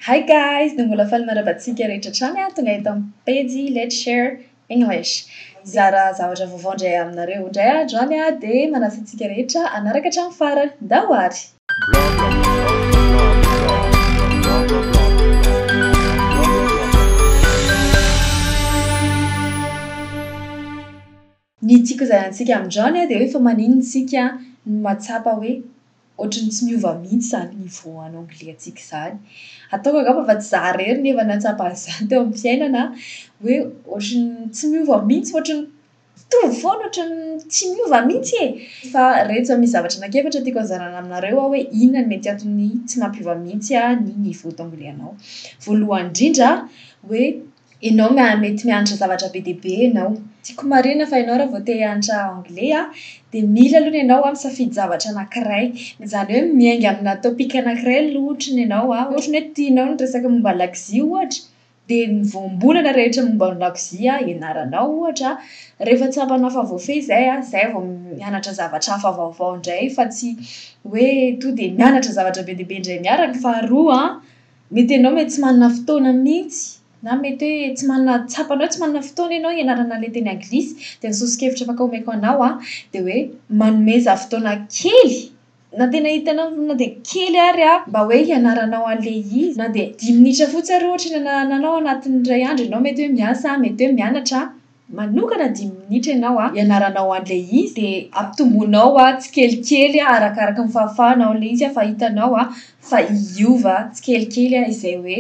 Hi guys, dia mbola faly manaraba antsika rehetra hatrany aho tonga eto amin'ny pejy Let's Share English hizara zavatra vaovao indray aminareo. Indray andro any aho dia manasa antsika rehetra hanaraka hatramin'ny farany. Ndao ary! Ny tiako zaraintsika amin'izany dia hoe fa maninona isika no mahatsapa hoe ohatran'ny tsy miova mihitsy izany niveau en anglais antsika izany. Ataoko angamba fa tsy za irery no efa nahatsapa an'izany teo amin'ny fiainana hoe ohatran'ny tsy miova mihitsy, ohatran'ny mitovy foana, ohatran'ny tsy miova mihitsy e! Fa ireto zao misy zavatra anankiefatra tiako hozaraina aminareo aho hoe inona no mety antony tsy mampiova mihitsy ny niveau d'anglais anao. Voalohany indrindra hoe. Enao ma mety mianatra zavatra be dia be enao. Tiako marina fa enao raha vao te hianatra anglais a, dia mila aloha ny enao misafidy zavatra anakiray. Izany hoe miainga amina topic anakiray aloha ohatra ny enao a, ohatra ny hoe tianao ny resaka momba ny lakozia ohatra, dia ny voambolana rehetra momba ny lakozia ianaranao ohatra, rehefa tsapanao fa voafehy izay a, izay vao mianatra zavatra hafa vaovao indray fa tsy hoe tonga dia mianatra zavatra be dia be indray miaraka. Faharoa a. Mety ianao mety tsy manana fotoana mihitsy na mety hoe tsy manana, tsapanao hoe tsy manana fotoana ianao hianarana ilay teny anglisy. Dia ny soso-kevitra afaka omeko anao an, dia hoe manomeza fotoana kely, na tena hitanao na dia kely ary an, mba hoe hianaranao an'ilay izy. Na dia dimy minitra fotsiny ary ohatra ny hanananao anatin'ny iray andro ianao mety hoe miasa, mety hoe mianatra. Manokana dimy minitra ianao hianaranao an'ilay izy dia ampitomboinao tsikelikely arakaraka ny fahafahanao ilay izy fa hitanao fa hiova tsikelikely izay hoe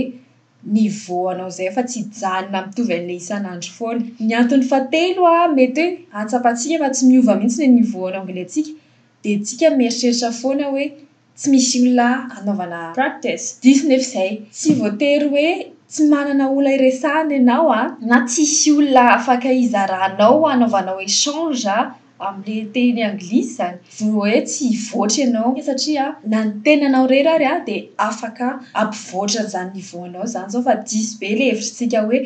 niveau anao izay fa tsy hijanona mitovy an'ilay isan'andro foana. Ny antony fahatelo mety hoe ahatsapantsika fa tsy miova mihitsy ny niveau-nao anglais-tsika dia isika mieritreritra foana hoe. Tsy misy olona anaovana practice. Diso nefa izay. Tsy voatery hoe tsy manana olona iresahana ianao a! Na tsisy olona afaka hizaranao hanaovanao échange amin'le teny anglisy izany vo hoe tsy hivoatra ianao satria na ny tenanao irery ary a dia afaka hampivoatra an'izany niveau anao izany izao fa diso be le hevitr'tsika hoe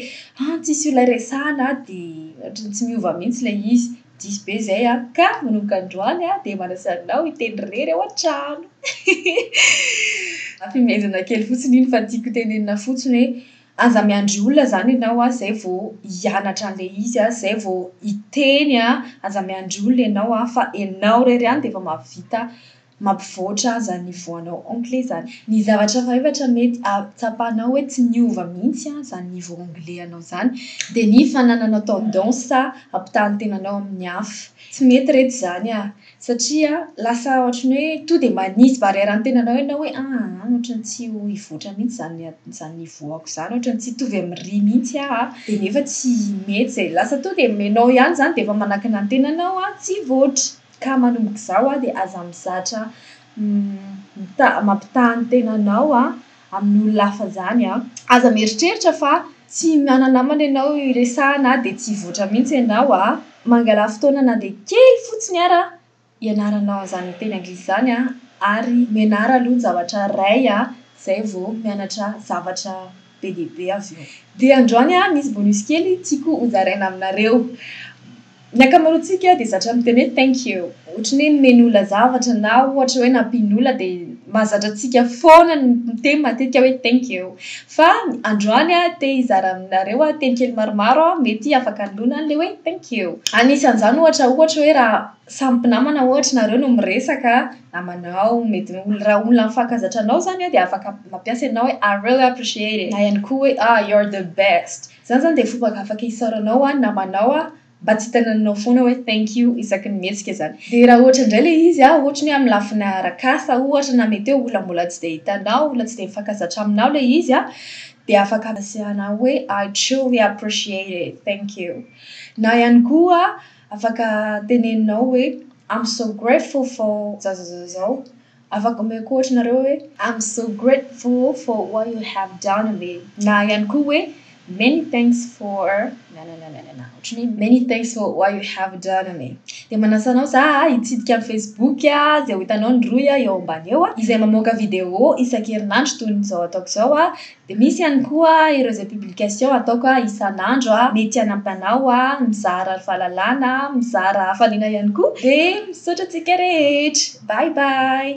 an tsisy olona iresahana dia ohatran'ny tsy miova mihitsy ilay izy. Diso be izay an! Ka manomboka androany aho dia manasa anao hiteny irery ao an-trano. Hafehezana kely fotsiny iny fa tiako tenenina fotsiny hoe aza miandry olona izany ianao an, izay vao hianatra an'ilay izy an, izay vao hiteny an, aza miandry olona ianao an, fa ianao irery ihany dia efa mahavita. Mampivoatra aza ny voanao anglais zany. Ny zavatra efatra mety tsapanao hoe tsy niova mihitsy zany niveau anglais anao zany dia ny fanananao tendance hampitaha ny tenanao amin'ny hafa. Tsy mety reto izany ah! Satria lasa ohatran'ny hoe to dia manisy barrière ny tenanao ianao hoe aa ohatran'ny tsy ho hivoatra mihitsy izany izany niveau-ako izany, ohatran'ny tsy hitovy amin'irỳ mihitsy aho ah! Dia nefa tsy mety izay. Lasa to dia ianao ihany izany dia efa manakana ny tenanao tsy hivoatra. Ka manomboka izao a dia aza mizatra mita- mampitaha ny tenanao a amin'ny olona hafa izany a. Aza mieritreritra fa tsy mana-namana ianao hiresahana dia tsy hivoatra mihitsy ianao a. Mangala fotoana na dia kely fotsiny ara hianaranao an'izany miteny anglisy izany a ary menara aloha ny zavatra iray a izay vao mianatra zavatra. be dia be azy io. Dia androany aho misy bonus kely tiako ho zaraina aminareo. Ny ankamaroantsika dia zatra miteny hoe thank you. Ohatry ny hoe nomeny olona zavatra na ohatra hoe nampian'ny olona dia mahazatra antsika foana ny miteny matetika hoe thank you. Fa androany aho te hizara aminareo teny kely maromaro mety afaka hanoloana an'ilay hoe thank you. Anisan'izany ohatra ohatra hoe raha samy mpinamana ohatra nareo no miresaka namanao mety raha olona mifankazatra anao zany dia afaka mampiasa ianao hoe I really appreciate it na ihany koa hoe ah you're the best zany zany dia fomba afaka isaoranao ho an'ny namanao aho mba tsy hitanana anao foana hoe thank you isaky ny mihetsika zany dia raha ohatra indray ilay izy an ohatra ny hoe amin'ny lafiny arak'asa ohatra na mety hoe olona mbola tsy dia hitanao olona tsy dia mifankazatra aminao ilay izy an dia afaka ampiasaina hoe I truly appreciate it thank you na ihany koa Afaka teneninao hoe, I'm so grateful for zazazazao. Afaka omeko ohatra nareo hoe, I'm so grateful for what you have done me na ihany koa hoe, many thanks for na na na na na ohatran'ny hoe many thanks for what you have done me. Dia manasa anao za hitsidika ny facebook izay ho hitanao ny rohy eo ambany eo izay mamoaka video isan-kerinandro toy ny izao ataoko izao Dia misy ihany koa ireo izay publication ataoko isan'andro, mety hanampy anao, mizara ry fahalalana, mizara hafaliana ihany koa, dia misaotra antsika rehetra. Bye bye.